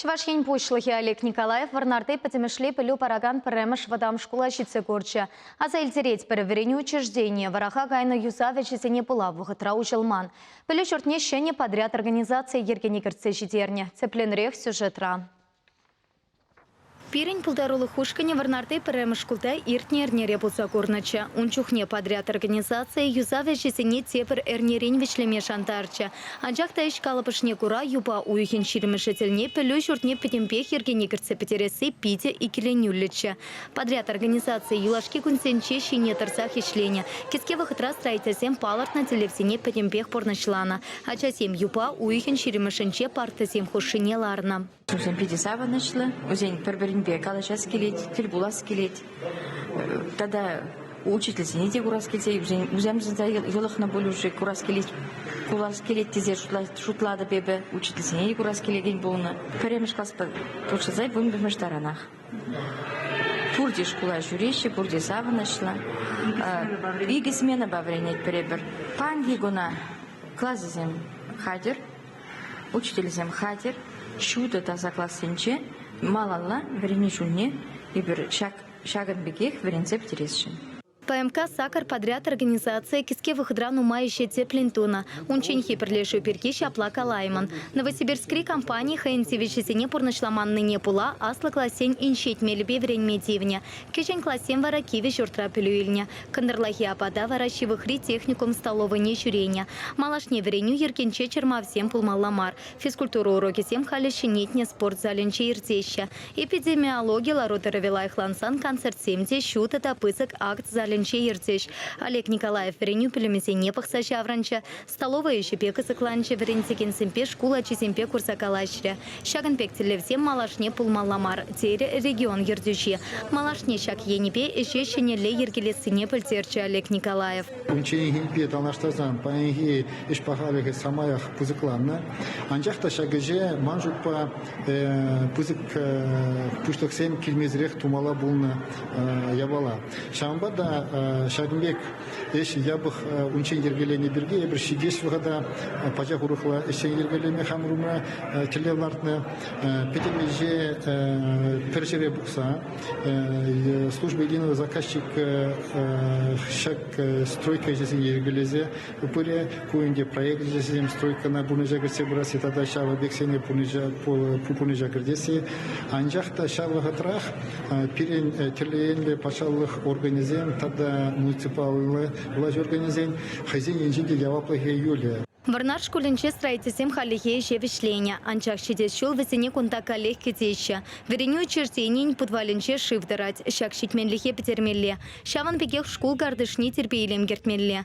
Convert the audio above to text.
Чӑваш Ен Пуҫлӑхӗ Олег Николаев Вӑрнарти пӗтӗмӗшле пӗлӳ паракан пӗрремӗш вӑтам шкула ҫитсе курчӗ. Аса илтеретпӗр, вӗренӳ учрежденийӗ вӑраха кайнӑ юсав ӗҫӗсене пула вӑхӑтра уҫӑлман. Пӗлӳ ҫуртне ҫӗнӗ подряд организацийӗ йӗркене кӗртсе ҫитернӗ. Тӗплӗнрех сюжетра. Пирӗн пултарулӑх ушкӑнӗ Вӑрнарти пӗрремӗш шкулта иртнӗ эрнере пулса курнӑччӗ. Ун чухне подряд организацийӗ юсав ӗҫӗсене тепӗр эрнерен вӗҫлеме шантарчӗ. Анчах та ӗҫ калӑпӑшне кура юпа уйӑхӗн ҫирӗмӗшӗ тӗлне пӗлӳ ҫуртне пӗтӗмпех йӗркене кӗртсе пӗтересси питӗ иккӗленӳллӗччӗ. Подряд организацийӗ юлашки кунсенче ҫине тӑрсах ӗҫленӗ. Кӗске вӑхӑтра строительсем палӑртнӑ тӗллевсене пӗтӗмпех пурнӑҫланӑ. Ачасем юпа уйӑхӗн ҫирӗмӗшӗнче партӑсем хушшине ларнӑ. Ҫусем питӗ савӑнӑҫлӑ, вӗсен пӗр-пӗринпе калаҫас килет, тӗл пулас килет. Тата учительсене те курас килсе, вӗсен вӗсемшӗн йӑлӑхнӑ пулӑшу курас килет, кулас килет тесе шутлатӑп эпӗ. Учительсене те курас килекен пулнӑ. Пӗрремӗш класпа пуҫласа вунпӗрмӗш таранах. Пурте шкула ҫӳреҫҫӗ, пурте савӑнӑҫлӑ. Икӗ сменӑпа вӗренетпӗр эпир. Паянхи куна классӗсем хатӗр. Учительсем хатӗр, ҫутӑ таса классенче малалла вӗренӳ чунне эпир ҫакӑн пекех вӗренсе пӗтересшӗн. ПМК сакӑр подряд организацийӗ кӗске вӑхӑтра нумай ӗҫе тӗплӗн тунӑ. Унчченхи пӗрлешӳ пирки ҫапла калаймӑн. Новосибирскри компани хӑйӗн тивӗҫӗсене пурнӑҫламаннине пула аслӑ классен инҫет мелӗпе вӗренме тивнӗ. Кӗҫӗн классем вара кивӗ ҫуртра пӗлӳ илнӗ. Кӑнтӑрлахи апата вара ҫывӑхри техникум столовӑйне ҫӳренӗ. Малашне вӗренӳ йӗркинче чӑрмавсем пулмалла мар. Физкультура урокӗсем халӗ ҫӗнетнӗ спорт залӗнче иртеҫҫӗ. Эпидемиологи лару-тӑрӑвӗ лайӑхлансан концертсем те ҫутӑ та пысӑк акт залӗнче иртӗҫ. Олег Николаев вӗренӳ пӳлӗмӗсене пӑхса ҫаврӑнчӗ, Столовӑй ӗҫӗпе кӑсӑкланчӗ, вӗрентекенсемпе, шкул ачисемпе курса калаҫрӗ. Ҫакӑн пек тӗллевсем малашне пулмалла мар, терӗ регион ертӳҫи. Малашне ҫак енӗпе ӗҫе ҫӗнӗлле йӗркелессине пӗлтерчӗ Олег Николаев. Унчченхинпе танлаштарсан паянхи ӗҫ пахалӑхӗ самаях пысӑкланнӑ. Анчах та ҫак ӗҫе, ман шутпа, пысӑк пуҫлӑхсем килмесӗрех тумалла пулнӑ япала. Ҫавӑнпа та ҫакӑн пек ӗҫ япӑх унччен йӗркеленӗ пирки эпир ҫитес вӑхӑта пачах урӑхла ӗҫсен йӗркелеме хамӑр умра тӗллев лартнӑ пӗтӗм ӗҫе пӗр ҫӗре пухса служба единого заказчика ҫак стройка ӗҫӗсене йӗркелесе пырӗ Ку ӗнтӗ проект вӗсем стройкӑна пурнӑҫа кӗртсе пырасси тата ҫав объектсене пурнӑҫа кӗртесси. Анчах та ҫав вӑхӑтрах пирӗн тӗрлӗ енлӗ патшалӑх органӗсем тата муниципаллӑ влаҫ органӗсен хӑйсен енчен те яваплӑхӗ юлӗ. Вӑрнар шкулӗнче строительсем хальлӗхе ӗҫе вӗҫленӗ, анчах ҫитес ҫул вӗсене кунта каллех кӗтеҫҫӗ. Вӗренӳ учрежденийӗн путвалӗнче шыв тӑрать, ҫак ҫитменлӗхе пӗтермелле. Ҫавӑн пекех шкул картишне тирпей-илем кӗртмелле.